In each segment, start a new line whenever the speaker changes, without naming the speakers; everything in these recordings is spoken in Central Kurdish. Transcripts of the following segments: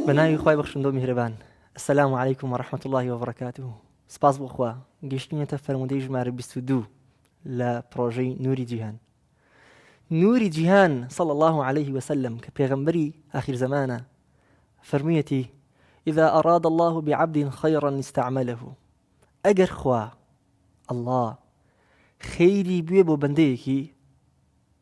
بە ناوی خوای بەخشندۆ میهرەبان السلام علیکم و رحمت الله و بەڕکاته سپاس بۆخوا گەشتینەتە فەرمودەی ژمارە 22 لە پرۆژەی نوری جیهان نوری جیهان صل الله عليه وسلم کە پێغمبەری آخر زمانە فەرموویەتی إذا أراد الله بعبد خيرا استعمله ئەگەر خوا الله خەیری بوێ بۆ بەندەیەکی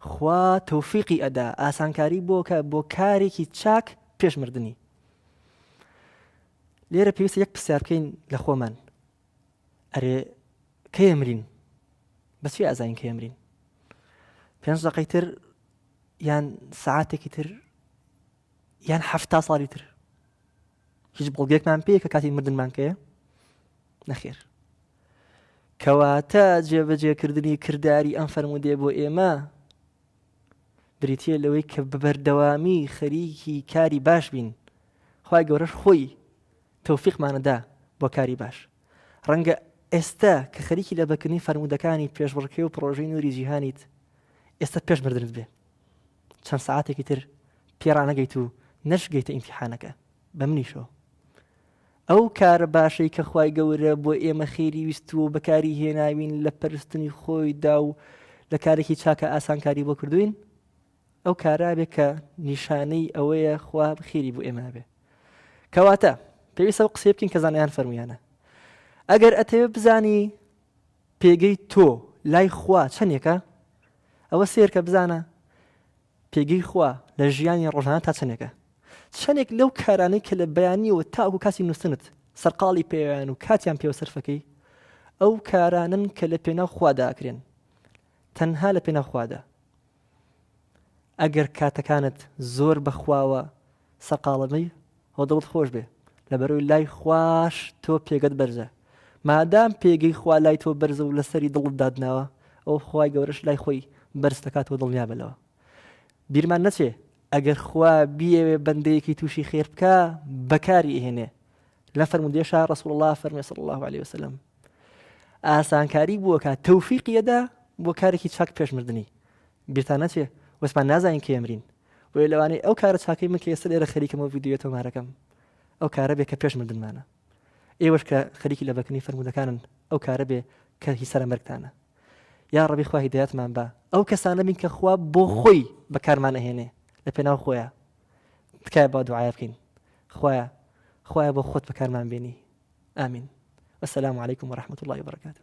خوا تۆفیقی ئەدا ئاسانکاری بۆکا بۆ کارێکی چاک پێش مردنی لێرە پێویستە یەک پرسیار بکەین لە خۆمان ئەرێ کەی ئەمرین بەس چی ئازین کە ئەمرین پێنج دقەی تر یان سعاتێکی تر یان هەفتا ساڵی تر هیچ بەڵگەێکمان پێ کە کاتی مردنمان پێ نەخێر کەواتە جێبەجێکردنی کردداری ئەم فەرمودێ بۆ ئێمە بریتە لەوەی کە بەبەردەوامی خەریکی کاری باش بین خی گەورەش خۆی تەوفیقمانەدا بۆ کاری باش ڕەنگە ئێستا کە خەریکی لە بەکردنی فەرمودەکانی پێشبڕکێ و پرۆژەی نووری جیهانیت ئێستا پێش مردنت بێ چەند سەعاتێکی تر پێ ڕانەگەیت و نەشگەیتە ئیمتیحانەکە بە منیشەوە ئەو کارە باشەی کە خوای گەورە بۆ ئێمە خێری ویستووە و بەکاری هێناوین لە پەرستنی خۆیدا و لە کارێکی چاکە ئاسانکاری بۆ کردوین ئەو کارابێ کە نیشانەی ئەوەیە خوا خێری بۆ ئێمە بێ کەواتە پێویستە و قسەی بکەین کە زانیان فەرمویانە ئەگەر ئەتەوێ بزانی پێگەی تۆ لای خوا چەندێکە ئەوە سەیرکە بزانە پێگەی خوا لە ژیانی ڕۆژانە تا چەندێکە چەندێک لەو کارانەی کە لە بەیانیەوە تاکو کاتی نووسنت سەرقاڵی پێویان و کاتیان پێوە سەرفەکەی ئەو کارانن کە لە پێناو خواداکرێن تەنها لە پێناو خوادا ئەگەر کاتەکانت زۆر بەخواوە سەرقاڵە بی و دڵت خۆش بێ لەبەرەوەی لای خواش تۆ پێگەت بەرزە مادام پێگەی خوا لای تۆ بەرزە و لەسەری دڵت دادناوە ئەو خوای گەورەش لای خۆی بەرز دەکات و دڵنیا بە لەوە بیرمان نەچێ ئەگەر خوا بیەوێ بەندەیەکی تووشی خێر بکە بەکاری ئێنێ لە فەرمودێشا ڕسول الله فەرمی صلی الله عليه وسلم ئاسانکاری بووەکە تەوفیقیەدا بۆ کارێکی چاک پێشمردنی بیرتان نەچێ وەسمان نازانین کێمرین بۆیە لەوانەیە ئەو کارە چاکەی من کە ئێستا لێرە خەریکم و ڤیدیۆ تۆمارەکەم ئەو کارە بێ کە پێش مردنمانە ئێوەش کە خەریکی لە بەکنی فەرمودەکانن ئەو کارە بێ کە هی سەرە مەرگتانە یا ڕەبی خوا هیدایەتمان بە ئەو کەسانە بین کە خوا بۆ خۆی بەکارمان ئەهێنێ لە پێناو خۆیان تکایە با دوعاە بکەین خوایە خوایە بۆ خۆت بەکارمان بینی ئامین والسلام عليكم ورحمة الله وبركاته